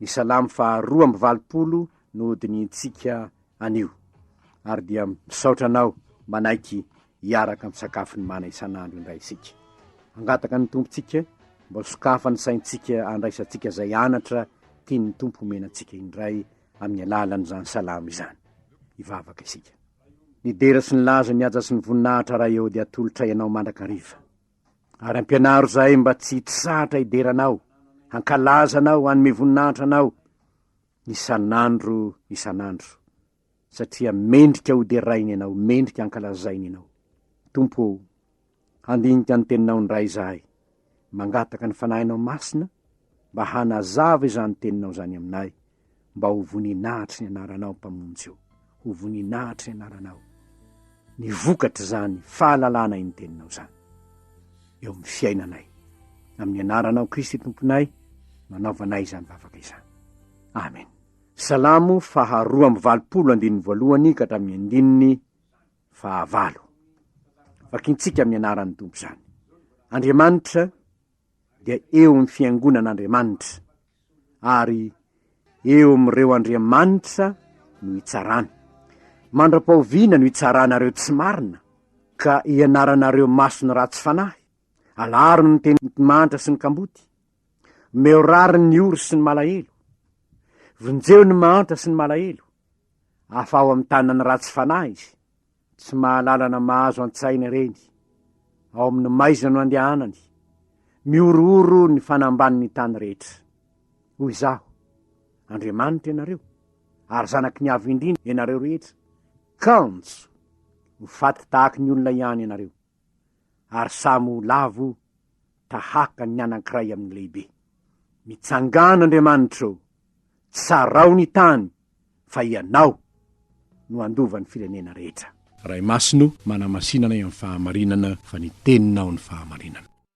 Ny salamo faha roa amby valopolo no hodinihintsika anio. Ary dia misaotra anao manaiky hiaraka misakafo ny mana isan'andro indray isika. Hangataka ny Tompontsika mba sokafa ny saintsika handraisantsika izay anatra tian'ny Tompo homena antsika indray amin'ny alalan'izany salamo izany. Hivavaka isika. Nidera sy nilaza ny haja sy ny voninahitra Ray ô dia atolotray Anao mandrakariva. Ary ampianaro izahay mba tsy hitsahatra hidera Anao, hankalaza Anao, hanome voninahitra Anao, isan'andro isan'andro, satria mendrika hoderaina Ianao, mendrika hankalazaina Ianao. Tompo ô, handinika ny Teninao indray izahay, mangataka ny Fanahinao Masina mba hanazava izany Teninao izany aminay, mba ho voninahitr'i ny anaranao mpamonjy ô, ho voninahitr'i ny anaranao ny vokatr'izany fahalalana iny teninao izany eo amin'ny fiainanay, amin'ny anaranao Kristy Tomponay no anaovanay izany vavaka izany. Amen. Salamo faharoa amby valopolo andininy voalohany ka hatramin'ny andininy fahavalo. Vakintsika amin'ny anaran'ny Tompo izany. Andriamanitra dia eo amin'ny fiangonan'Andriamanitra, ary eo amin'ireo andriamanitra no hitsarana. Mandra-pahoviana no hitsaranareo tsy marina, ka hianaranareo maso ny ratsy fanahy? Alaro ny teny mahantra sy ny kamboty, omeo rariny ny ory sy ny malahelo, vonjeo ny mahantra sy ny malahelo, afaho amin'ny tanan'ny ratsy fanahy izy, Tsy mahalalana mahazo an-tsaina ireny. Ao amin'ny maizina no andehanany. Mihorohoro ny fanambanin'ny tany rehetra. Hoy izaho, Andriamanitra ianareo, ary zanaky ny Avo Indrindra ianareo rehetra. Kanjo! Ho faty tahaka ny olona ihany ianareo. ary samy ho lavo tahaka ny anankiray amin'ny lehibe. Mitsangàna Andriamanitra ô! Tsarao ny tany fa Ianao no handova ny firenena rehetra. Ray Masina ô! Manamasinanay amin'ny fahamarinana fa ny Teninao ny fahamarinana.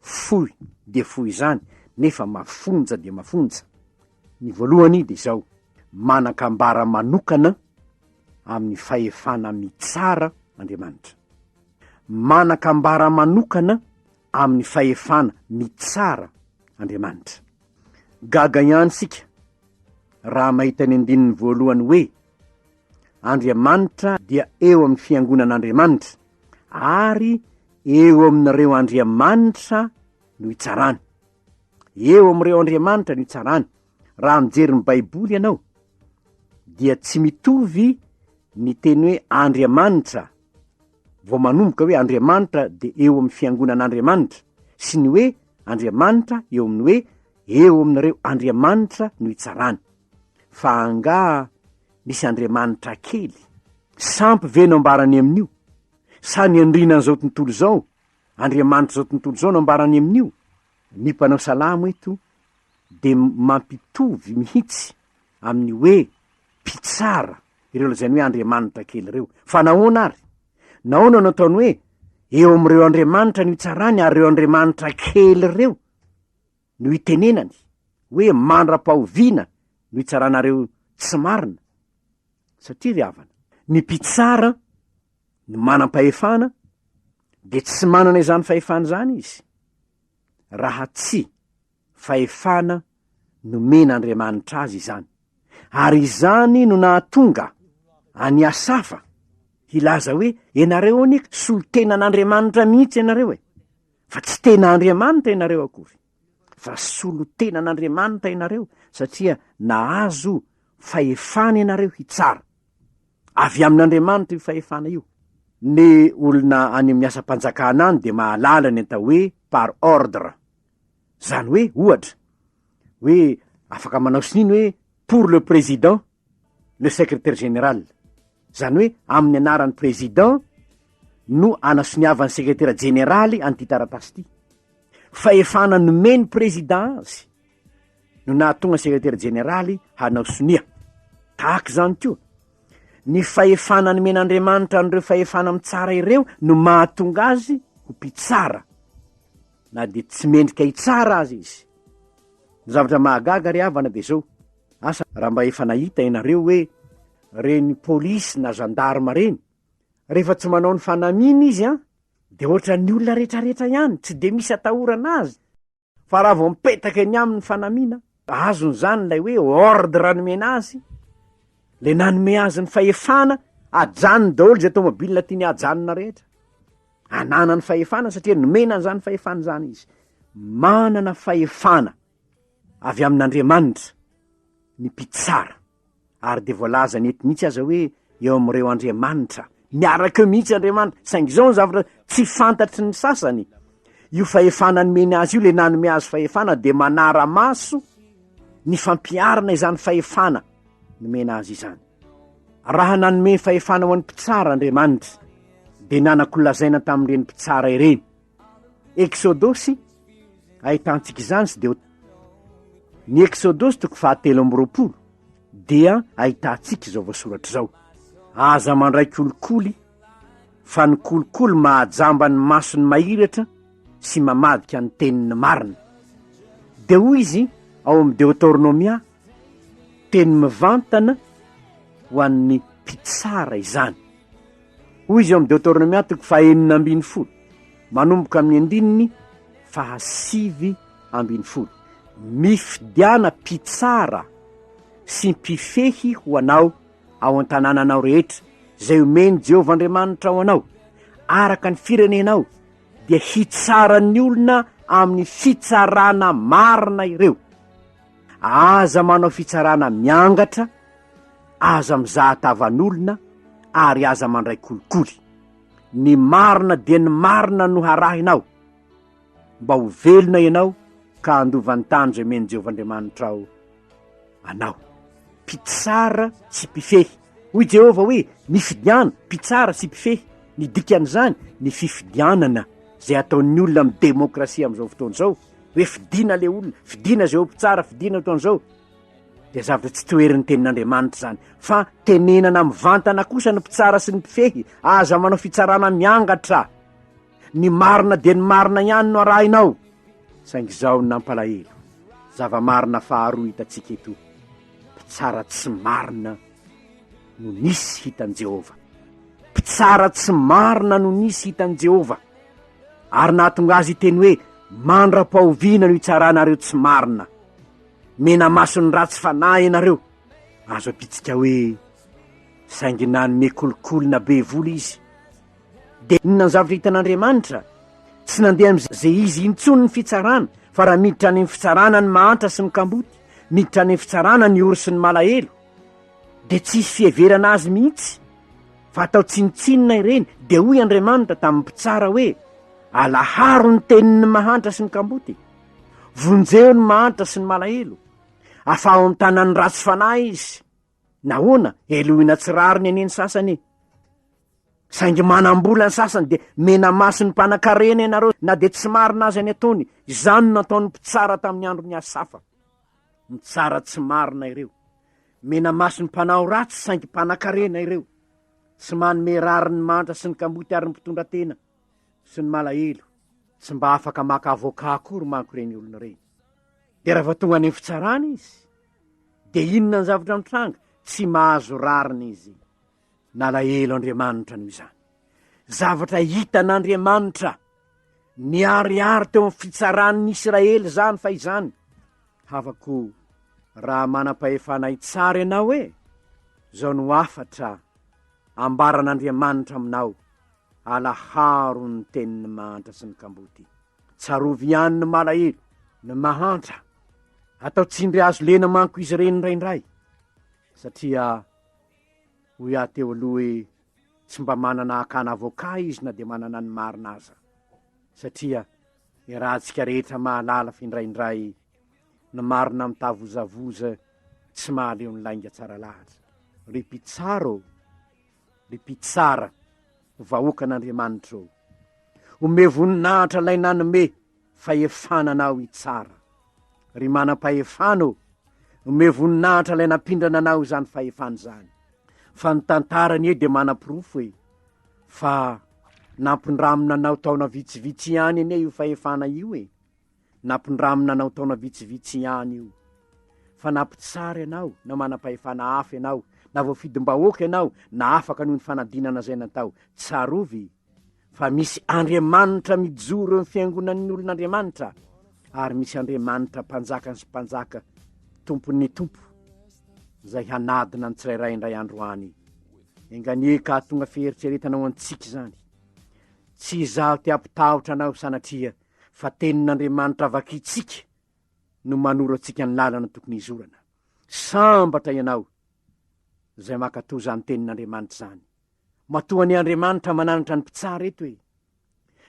Fohy dia fohy izany nefa mafonja dia mafonja. Ny voalohany dia izao, manan-kambara manokana amin'ny fahefana mitsara Andriamanitra. Manan-kambara manokana amin'ny fahefana mitsara Andriamanitra. Gaga ihany isika raha mahita ny andininy voalohany hoe, Andriamanitra dia eo amin'ny fiangonan'Andriamanitra. ary eo amin'ireo andriamanitra no hitsarany. Eo amin'ireo andriamanitra no hitsarany. Raha mijery ny Baiboly ianao, dia tsy mitovy ny teny hoe andriamanitra vao manomboka hoe andriamanitra dia eo amin'ny fiangonan'andriamanitra sy ny hoe andriamanitra eo amin'ny hoe eo amin'ireo andriamanitra no hitsarany. Fa angaha misy andriamanitra kely? Sampy ve no ambarany amin'io? Sa ny andrinan'izao tontolo izao, andriamanitr'izao tontolo izao no ambarany amin'io? Ny mpanao salamo eto dia mampitovy mihitsy amin'ny hoe mpitsara ireo lazainy hoe andriamanitra kely ireo. Fa nahoana ary? Nahoana no ataony hoe eo amin'ireo andriamanitra no itsarany ary ireo andriamanitra kely ireo? no itenenany hoe mandra-pahoviana no hitsaranareo tsy marina? Satria ry havana, ny mpitsara, ny manam-pahefana, dia tsy manana izany fahefana izany izy, raha tsy fahefana nomen'Andriamanitra azy izany. Ary izany no nahatonga an'i Asafa hilaza hoe, Ianareo anie solontenan'Andriamanitra mihitsy ianareo e! fa tsy tena Andriamanitra ianareo akory, fa solon-tenan'Andriamanitra ianareo, satria nahazo fahefana ianareo hitsara. Avy amin'Andriamanitra io fahefana io. Ny olona any amin'ny asam-panjakana any dia mahalala ny atao hoe par ordre. Izany hoe, ohatra, hoe afaka manao sonia ny hoe pour le président, le secrétaire général, izany hoe amin'ny anaran'ny président no anasoniavan'ny sekretera jeneraly an'ity taratasy ity. Fahefana nomen'ny président azy no nahatonga ny sekretera jeneraly hanao sonia. Tahaka izany koa, ny fahefana nomen'Andriamanitra an'ireo fahefana mitsara ireo no mahatonga azy ho mpitsara, na dia tsy mendrika hitsara aza izy. Ny zavatra mahagaga ry havana dia izao, Asa raha mba efa nahita ianareo hoe reny polisy na gendarme reny, rehefa tsy manao ny fanamiany izy an, dia ohatran'ny olona retraretra ihany, tsy dia misy atahorana azy, fa raha vao mipetaka eny aminy ny fanamiana, azony izany ilay hoe ordre nomena azy, ilay nanome azy ny fahefana, ajanony daholo izay tomobilina tiany hajanona rehetra, ananany fahefana satria nomena an'izany fahefana izany izy, manana fahefana. avy amin'Andriamanitra ny mpitsara, ary dia voalazany eto mihitsy aza hoe eo amin'ireo andriamanitra, miaraka eo mihitsy Andriamanitra, saingy izao ny zavatra tsy fantatry ny sasany, io fahefana nomeny azy io, ilay nanome azy fahefana dia manara-maso ny fampiharana izany fahefana nomena azy izany. Raha nanome fahefana ho an'ny mpitsara Andriamanitra, dia nanako lazaina tamin'ireny mpitsara ireny, Eksodosy ahitantsika izany sy deo ny eksodosy toko fahatelo amby roapolo dia ahitantsika izao voasoratra izao aza mandray kolikoly fa ny kolikoly mahajamba ny masony mahiratra sy mamadika ny teniny marina de hoy izy ao amin'ny deotornomia Teny mivantana ho an'ny mpitsara izany. Hoy izy ao amin'ny Deoteronomia toko fahenina ambin'ny folo, manomboka amin'ny andininy fahasivy ambin'ny folo, Mifidiana mpitsara sy mpifehy ho anao ao an-tanànanao rehetra, izay omen'i Jehovah Andriamanitrao anao, araka ny firenenao, dia hitsara ny olona amin'ny fitsarana marina ireo. Aza manao fitsarana miangatra, aza mizaha tavan'olona ary aza mandray kolikoly. Ny marina dia ny marina no harahina ao, mba ho velona ianao ka handova ny tany izay omen'i Jehovah Andriamanitrao anao. Mpitsara sy mpifehy Hoy Jehovah hoe, Mifidiana, mpitsara sy mpifehy. Ny dikan'izany, ny fifidianana, izay ataon'ny olona amin'ny demokrasia amin'izao fotoana izao, hoe fidiana ilay olona, fidiana izay ho mpitsara, fidiana eto an'izao, dia zavatra tsy toherin'ny Tenin'Andriamanitra izany. Fa tenenana mivantana kosa ny mpitsara sy ny mpifehy, Aza manao fitsarana miangatra. ny marina dia ny marina ihany no arahinao, saingy izao no nampalahelo, zava-marina faharoa hitantsika eto, mpitsara tsy marina no nisy hitan'i Jehovah. Mpitsara tsy marina no nisy hitan'i Jehovah, ary nahatonga azy hiteny hoe, Mandra-pahoviana no hitsaranareo tsy marina? Mena-maso ny ratsy fanahy ianareo. Azo adintsika hoe, Saingy nanome kolikoly na be vola izy. Dia inona ny zavatra hitan'Andriamanitra? Tsy nandeha amin'izay izy intsony ny fitsarana, fa raha miditra any amin'ny fitsarana ny mahantra sy ny kamboty, miditra any amin'ny fitsarana ny ory sy ny malahelo, dia tsy hisy fiheverana azy mihitsy, fa atao tsinontsinona ireny. Dia hoy Andriamanitra tamin'ny mpitsara hoe, Alaharo ny tenin'ny mahantra sy ny kamboty, vonjeo ny mahantra sy ny malahelo, afaho amin'ny tanan'ny ratsy fanahy izy. Nahoana? Helohina tsy rariny anie ny sasany e! Saingy manam-bola ny sasany dia mena-maso ny mpanankarena ianareo na dia tsy marina aza ny ataony. Izany no nataon'ny mpitsara tamin'ny andron'i Asafa. Mitsara tsy marina ireo. Mena-maso ny mpanao ratsy saingy mpanankarena ireo. Tsy manome rariny ny mantra sy ny kamboty ary ny mpitondra tena sy ny malahelo. Tsy mba afaka maka avoka akory manko ireny olona ireny. Dia raha vao tonga any amin'ny fitsarana izy, Dia inona ny zavatra nitranga? Tsy mahazo rariny izy. Nalahelo Andriamanitra noho izany. Zavatra hitan'Andriamanitra. Niharihary teo amin'ny fitsaran'ny Israely izany fa izany. Havako raha manam-pahefana hitsara ianao hoe, izao no hafatra ambaran'Andriamanitra aminao, alaharo ny tenin'ny mahantra sy ny kamboty. Tsarovy ihany ny malahelo, ny mahantra. Atao tsindry hazo lena manko izy ireny indraindray, satria hoy aho teo aloha hoe tsy mba manana hakana avoka izy na dia manana ny marina aza, satria iarahantsika rehetra mahalala fa indraindray ny marina mitavozavoza tsy mahaleo ny lainga tsara lahatra. Ry mpitsara ô! Ry mpitsara! Vahoakan'Andriamanitra ô, omeo voninahitra 'Lay nanome fahefana anao hitsara. Ry Manam-pahefana ô, omeo voninahitra 'Lay nampindrana anao izany fahefana izany. Fa ny tantara anie dia manaporofo e, fa nampindramina anao taona vitsivitsy ihany anie io fahefana io e. Nampindramina anao taona vitsivitsy ihany io, fa na mpitsara ianao, na manam-pahefana hafa ianao, na voafidim-bahoaka ianao, na afaka noho ny fanadinana izay natao, tsarovy fa misy Andriamanitra mijoro eo amin'ny fiangonan'ny olon'Andriamanitra, ary misy Andriamanitra mpanjakan'ny sy mpanjaka, Tompon'ny tompo, izay hanadina ny tsirairay indray andro any. Enganie ka hahatonga fieritreretana ho antsika izany. Tsy izaho te-hampitahotra anao, sanatria fa tenin'Andriamanitra vakintsika no manorantsika ny lalana tokony hizorana. Sambatra ianao izay mankatò izany tenin'Andriamanitra izany. Matoa anie Andriamanitra mananatra ny mpitsara eto e!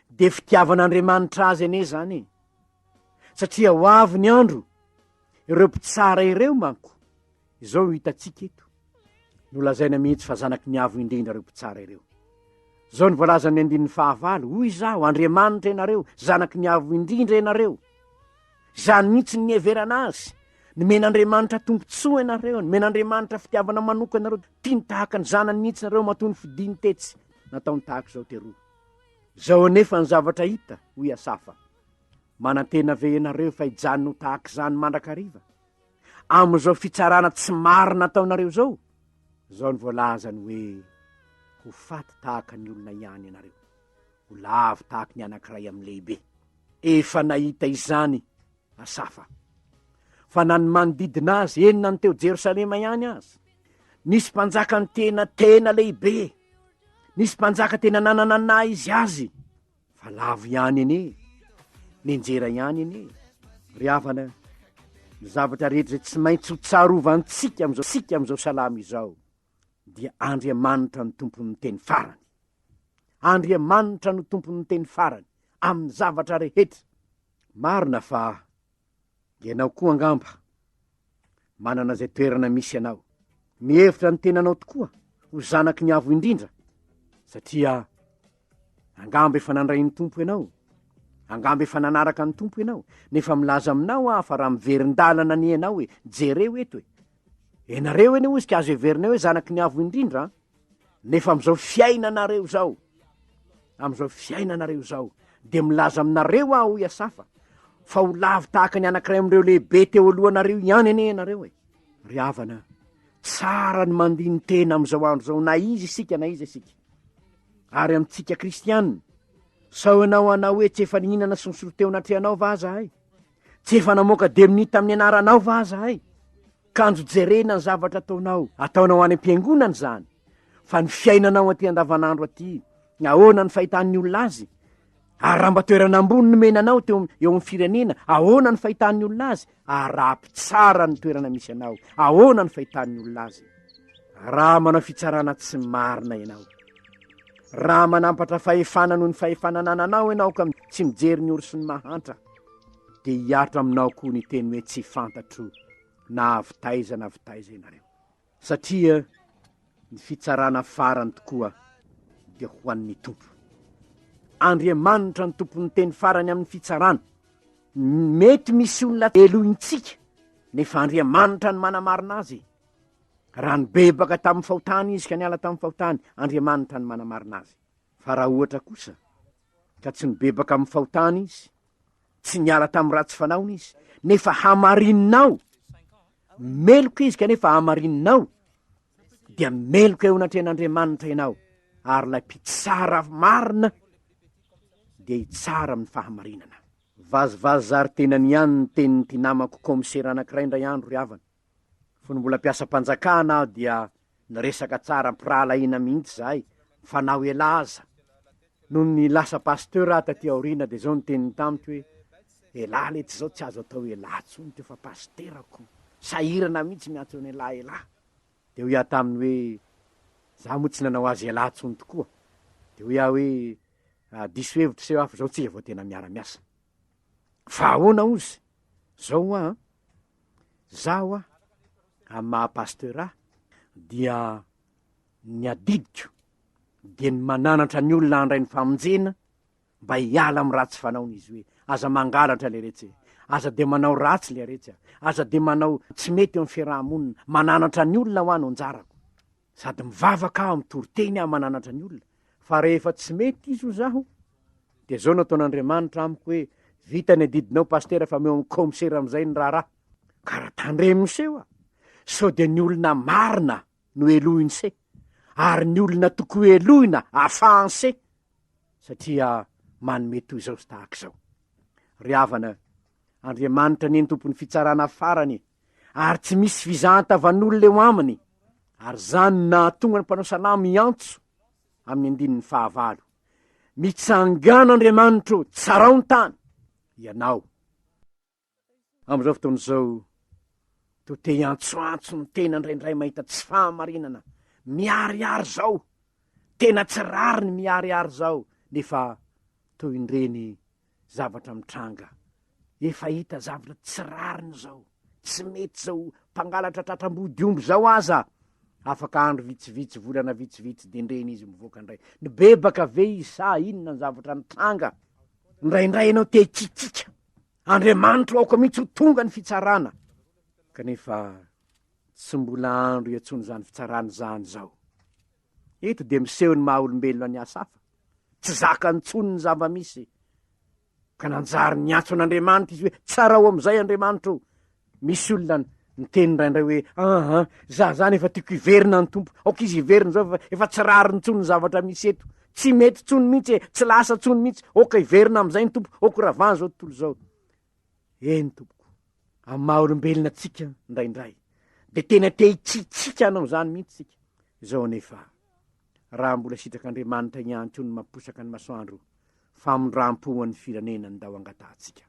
Dia fitiavan'Andriamanitra azy anie izany e! Satria ho avy ny andro, ireo mpitsara ireo manko, Izao no hitantsika eto, nolazaina mihitsy fa zanaky ny Avo Indrindra ireo mpitsara ireo. Izao no voalazan'ny andininy fahavalo, hoy izaho, Andriamanitra ianareo, zanaky ny Avo Indrindra ianareo. Izany mihitsy ny niheverana azy. Nomen'Andriamanitra tombontsoa ianareo, nomen'Andriamanitra fitiavana manokana ianareo, tiany tahaka ny zanany mihitsy ianareo matoa nofidiny tetsy, nataony tahaka izao teroa. Izao anefa ny zavatra hita, hoy Asafa, Manantena ve ianareo fa hijanona ho tahaka izany mandrakariva? amin'izao fitsarana tsy marina ataonareo izao, izao no voalazany hoe, Ho faty tahaka ny olona ihany ianareo, ho lavo tahaka ny anankiray amin'ny lehibe. Efa nahita izany Asafa, fa na ny manodidina azy, eny na ny teo Jerosalema ihany aza. Nisy mpanjaka nitena tena lehibe, nisy mpanjaka tena nanana naha izy azy. Fa lavo ihany anie, nenjera ihany anie, ry havana a, ny zavatra rehetra izay tsy maintsy ho tsarovantsika amin'izao tsika amin'izao salama izao dia Andriamanitra no tompon'ny teny farany. Andriamanitra no tompon'ny teny farany amin'ny zavatra rehetra. Marina fa Ianao koa angamba manana izay toerana misy anao. Mihevitra ny tenanao tokoa ho zanaky ny Avo Indrindra, satria angamba efa nandray ny Tompo ianao, angamba efa nanaraka ny Tompo ianao, nefa milaza aminao aho fa raha miverin-dalana anie ianao e, jereo eto e, ianareo anie hoy izy ka azo heverina hoe zanaky ny Avo Indrindra an, Nefa amin'izao fiainanareo izao, amin'izao fiainanareo izao, dia milaza aminareo aho, hoy Asafa, fa ho lavo tahaka ny anankiray amin'ireo lehibe teo alohanareo ihany anie ianareo e. Ry havana, tsara ny mandini-tena amin'izao andro izao, na iza isika na iza isika. Ary amintsika kristiana, sao ianao hanao hoe tsy efa nihinana sy nisolo teo anatrehanao va zahay? Tsy efa namoaka demonia tamin'ny anaranao va zahay? Kanjo jerena ny zavatra ataonao, ataonao any am-piangonana izany, fa ny fiainanao aty andavanandro aty, ahoana ny fahitan'ny olona azy? Ary raha mba toerana ambony nomena anao teo eo amin'ny firenena, ahoana ny fahitan'ny olona azy? Arapy tsara ny toerana misy anao, ahoana ny fahitan'ny olona azy? Raha manao fitsarana tsy marina ianao, raha manampatra fahefana noho ny fahefana anananao ianao ka tsy mijery ny orosy ny mahantra, dia hiaritra aminao koa ny teny hoe tsy fantatro na avy taiza na avy taiza ianareo. Satria ny fitsarana farany tokoa dia ho an'ny Tompo. Andriamanitra ny tompon'ny teny farany amin'ny fitsarana. Mety misy olona elohintsika, nefa Andriamanitra ny manamarina azy. Raha nibebaka tamin'ny fahotany izy ka niala tamin'ny fahotany, Andriamanitra ny manamarina azy. Fa raha ohatra kosa ka tsy nibebaka amin'ny fahotany izy, tsy niala tamin'ny ratsy fanaony izy, nefa hamarininao, meloka izy kanefa hamarininao, dia meloka eo anatrehan'Andriamanitra ianao, ary ilay mpitsara marina dia hitsara amin'ny fahamarinana. Vazivazy zary tenany ihany ny tenin'ity namako kaomisera anankiray indray andro ry havana. Fony mbola mpiasam-panjakana aho dia niresaka tsara am-pirahalahiana mihitsy izahay fa na ho ela aza. Nony lasa pasteur aho taty aoriana dia izao no teniny tamiko hoe, Elah letsy izao tsy azo atao elah intsony ity fa pasitera ko, sahirana mihitsy miantso an'ialahy elah. Dia hoy aho taminy hoe, Izaho moa tsy nanao azy elah intsony tokoa. Dia hoy aho hoe, Diso hevitra seho aho fa izao tsika vao tena miara-miasa. Fa ahoana ozy? Izao hoa an! Izaho, amin'ny maha pasteur ahy, dia ny adidiko dia ny mananatra ny olona handray ny famonjena mba hiala amin'ny ratsy fanaony izy hoe aza mangalatra le retsy e aza dia manao ratsy le retsy a aza dia manao tsy mety eo amin'ny fiaraha-monina mananatra ny olona ho any onjarako Sady mivavaka aho mitory teny aho mananatra ny olona fa rehefa tsy mety izy ho zaho dia zao nataon'Andriamanitra amiko hoe vita ny adidinao pastera fa meo amin'ny kaomisera amin'izay ny raharaha ka raha tandremo se oa sao dia ny olona marina no helohiny se ary ny olona toko helohina afahany se satria manome toy izao sy tahaka izao ry havana Andriamanitra ny entompon'ny fitsarana farany e. ary tsy misy fizahan-tavan'olona eo aminy, ary izany no nahatonga ny mpanao salamo hiantso amin'ny andininy fahavalo, Mitsangàna Andriamanitro, tsarao ny tany, ianao. Amin'izao fotoana izao, toa te hiantsoantso ny tena indraindray mahita tsy fahamarinana miharihary izao, tena tsy rariny miharihary izao, nefa toy indreny Zavatra mitranga, efa hita zavatra tsy rariny zao, tsy mety zao, mpangalatra tratram-body omby zao aza afaka andro vitsivitsy, volana vitsivitsy dendreny izy mivoaka ndray, nibebaka ve izy sa inona ny zavatra nitranga? Ndraindray ianao te hikikika, Andriamanitro aoka mihitsy ho tonga ny fitsarana, kanefa tsy mbola andro iatsony zany fitsarana zany zao. Eto dia miseho ny maha-olombelona an'i Asafa. Tsy zakany intsony ny zava-misy. Ka nanjary niantso an'Andriamanitra izy hoe, Tsarao amin'izay Andriamanitra o! Misy olona niteny indraindray hoe, Aha, za izany efa tiako hiverina ny Tompo. Aoka izy hiverina izao fa efa tsy rariny intsony ny zavatra misy eto. Tsy mety intsony mihitsy e! Tsy lasa intsony mihitsy. Aoka hiverina amin'izay ny Tompo. Aoka ho ravana izao tontolo izao. Eny tompoko, amin'ny maha olombelona antsika indraindray dia tena te hitsitsika hanao izany mihitsy isika. Izao anefa, raha mbola sitrak'Andriamanitra ihany koa ny mamposaka ny masoandro, famindram-po ho an'ny firenena ndao angatahantsika.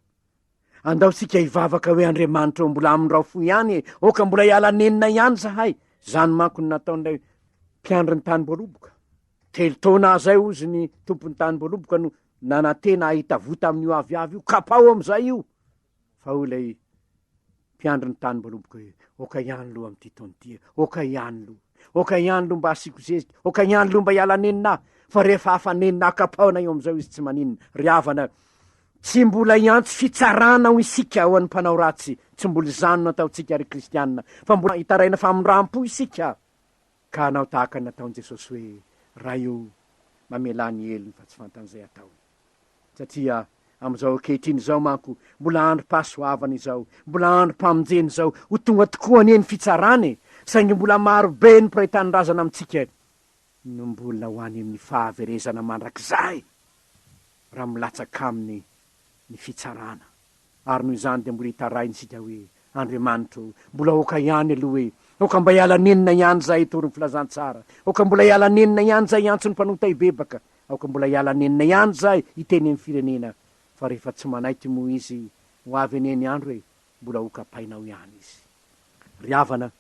Andao isika hivavaka hoe Andriamanitra ô mbola amindrao fo ihany e, oka mbola hiala nenina ihany zahay, izany manko no nataon'ilay mpiandry ny tany voaroboka. Telo taona aza ay ozy ny tompon'ny tany Mboloboka no nanantena ahita voa tamin'io aviavy io, kapaho amin'izay io! Fa hoy ilay mpiandry ny tany Mboloboka hoe, Oka ihany loha amin'ity taona ity e! Oka ihany loha! Oka ihany loha mba hasiako zezika! Oka ihany loha mba hiala nenina aho! Fa rehefa hafa nenina aho, kapahona eo amin'izao izy tsy maninona. Ry havana, tsy mbola hiantso fitsarana hoy isika ho an'ny mpanao ratsy, tsy mbola izany no ataontsika ry kristiana, fa mbola hitaraina famindram-po isika. Ka hanao tahaka ny nataon'i Jesosy hoe, Ray o, mamelà ny helony fa tsy fantan'izay ataony. Satria amin'izao ankehitriny izao manko, mbola androm-pahasoavana izao, mbola androm-pamonjena izao, ho tonga tokoa anie ny fitsarana e! saingy mbola maro be ny mpiray tanindrazana amintsika no mbola ho any amin'ny fahaverezana mandrakizay raha milatsaka aminy ny fitsarana. Ary noho izany dia mbola hitaraina isika hoe, Andriamanitra o, mbola aoka ihany aloha hoe, aoka mba hiala nenina ihany izahay hitory ny filazantsara, aoka mbola hiala nenina ihany izahay hiantso ny mpanota hibebaka, aoka mbola hiala nenina ihany izahay hiteny amin'ny firenena, fa rehefa tsy manaiky moa izy, ho avy anie ny andro e, mbola hokapainao ihany izy. Ry havana,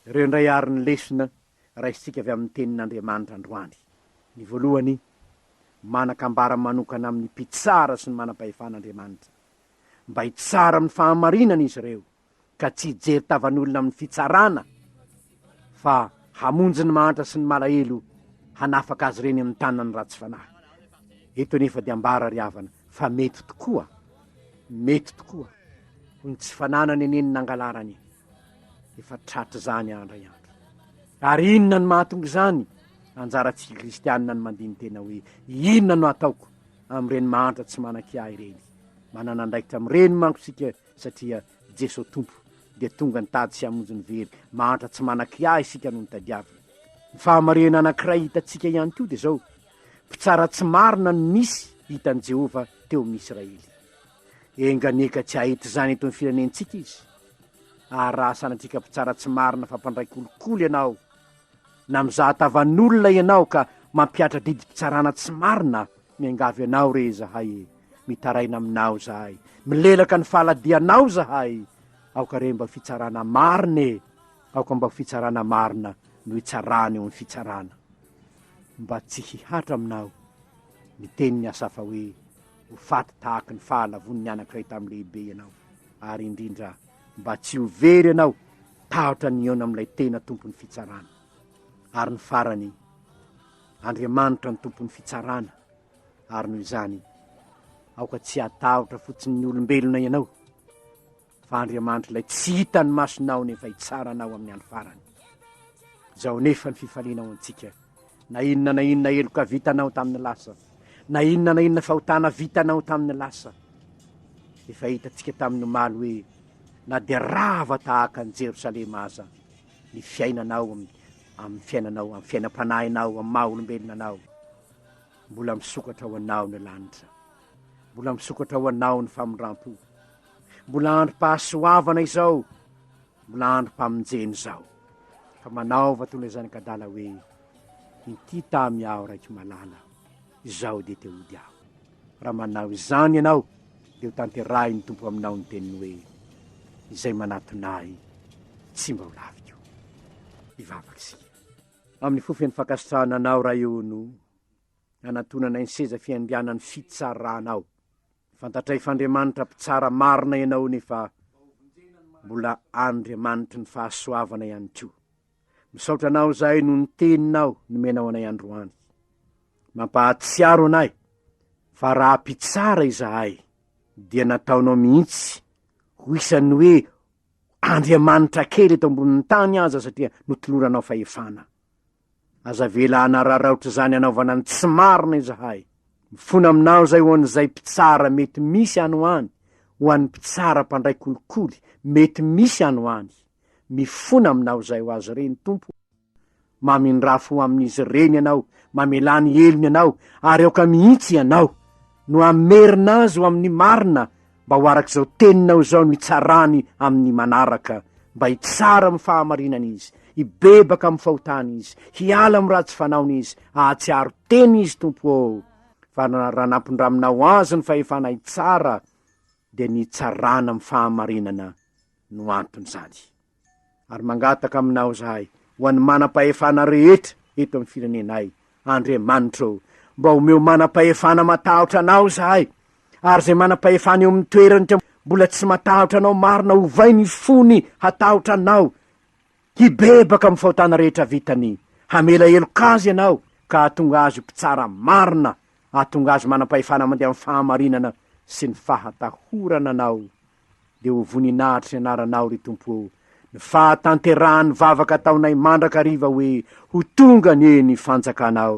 ireo indray ary ny lesona raisintsika avy amin'ny Tenin'Andriamanitra androany. Ny voalohany, manan-kambara manokana amin'ny Mpitsara sy ny manam-pahefana Andriamanitra. Mba hitsara amin'ny fahamarinana izy ireo, ka tsy hijery tavan'olona amin'ny fitsarana, fa hamonjy ny mahantra sy ny malahelo, hanafaka azy ireny amin'ny tanan'ny ratsy fanahy. Eto anefa dia ambara ry havana fa mety tokoa, mety tokoa ho ny tsy fananany anie ny nangalarany. Efa tratr'izany andro indray andro. Ary inona no mahatonga izany? Anjarantsika kristianina ny mandini-tena hoe inona no ataoko amin'ireny mahantra tsy manan-kiahy ireny. Manana andraikitra amin'ireny manko isika satria Jesoa Tompo dia tonga nitady sy hamonjy ny very mahantra tsy manan-kiahy isika no nitadiaviny. Ny fahamarihana anankiray hitantsika ihany koa dia izao, mpitsara tsy marina no nisy hitan'i Jehovah teo amin'ny Israely. Enga anie ka tsy hahita izany eto amin'ny firenentsika izy, ary raha sanatriaka mpitsara tsy marina fa mpandray kolikoly ianao, na mizaha tavan'olona ianao ka mampihatra didim-pitsarana tsy marina, miangavy anao re izahay e, mitaraina aminao izahay, milelaka ny fahaladianao izahay, aoka re mba fitsarana marina e, aoka mba ho fitsarana marina no hitsarana eo amin'ny fitsarana. Mba tsy hihatra aminao, ny tenin'i Asafa hoe. Ho faty tahaky ny fahalavoan'ny anankiray tamin'ny lehibe ianao, ary indrindra mba tsy ho very ianao tahotra ny hihaona amin'ilay tena Tompon'ny fitsarana. Ary ny farany, Andriamanitra no Tompon'ny fitsarana, ary noho izany, aoka tsy hatahotra fotsiny ny olombelona ianao, Fa Andriamanitra ilay tsy hitan'ny masonao nefa hitsara anao amin'ny andro farany. Zao nefa ny fifalianao antsika, na inona na inona heloka vitanao tamin'ny lasa, na inona na inona fahotana vitanao tamin'ny lasa. Efa hitantsika tamin'ny omaly hoe na dia rava tahaka an'i Jerosalema aza ny fiainanao amin'ny amin'ny fiainanao, amin'ny fiainam-panahinao, amin'ny maha olombelona anao. Mbola misokatra ho anao ny lanitra. Mbola misokatra ho anao ny famindram-po. Mbola androm-pahasoavana izao, mbola androm-pamonjena izao. Fa manaova toy ilay zanak'adala hoe, Inty tamy aho raiky malala, izao dia te hody aho. Raha manao izany ianao, dia ho tanterahin'ny Tompo aminao ny teniny hoe, Izay manatona Ahy, tsy mba ho laviko. Hivavaka isika. Amin'ny fo feno fankasitrahana Anao, Ray o, no anatonanay ny seza fiandrianan'ny fitsaranao. Fantatray f'Andriamanitra mpitsara marina ianao nefa mbola Andriamanitry ny fahasoavana ihany koa. Misaotra anao zahay noho ny teninao nomenao anay androany. Mampahatsiaro anay fa raha mpitsara izahay dia nataonao mihitsy ho isan'ny hoe Andriamanitra kely eto ambonin'ny tany aza satria notoloranao fahefana. Aza avela hanararaotra izany hanaovana ny tsy marina izahay. Mifona aminao izay ho an'izay mpitsara mety misy any ho any, ho an'ny mpitsara mpandray kolikoly mety misy any ho any. Mifona aminao izay ho azy ireny, Tompo o. Mamindrà fo amin'izy ireny Ianao, mamelà ny helony Ianao, ary aoka mihitsy Ianao no hamerina azy ho amin'ny marina mba ho araka izao teninao izao no hitsarany amin'ny manaraka, mba hitsara amin'ny fahamarinana izy, hibebaka amin'ny fahotany izy, hiala amin'ny ratsy fanaony izy, hahatsiaro tena izy, Tompo ô, fa raha nampindraminao azy ny fahefana hitsara, dia ny hitsarana amin'ny fahamarinana no anton'izany. Ary mangataka aminao zahay, ho an'ny manam-pahefana rehetra eto amin'ny firenenay, Andriamanitra o, mba omeo manam-pahefana matahotra anao zahay, ary izay manam-pahefana eo amin'ny toerany ka mbola tsy matahotra anao marina ovay ny fony hatahotra anao, hibebaka amin'ny fahotana rehetra vitany, hamela heloka azy ianao ka hahatonga azy ho mpitsara marina, hahatonga azy manam-pahefana mandeha amin'ny fahamarinana sy ny fahatahorana anao. dia ho voninahitr'i anaranao ry Tompo ô ny fahatanterahan'ny vavaka ataonay mandrakariva hoe ho tonga anie ny fanjakanao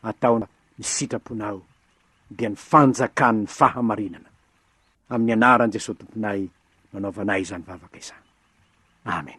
atao ny sitraponao dia ny fanjakan'ny fahamarinana amin'ny anaran'i Jesosy Tomponay no anaovanay izany vavaka izany Amen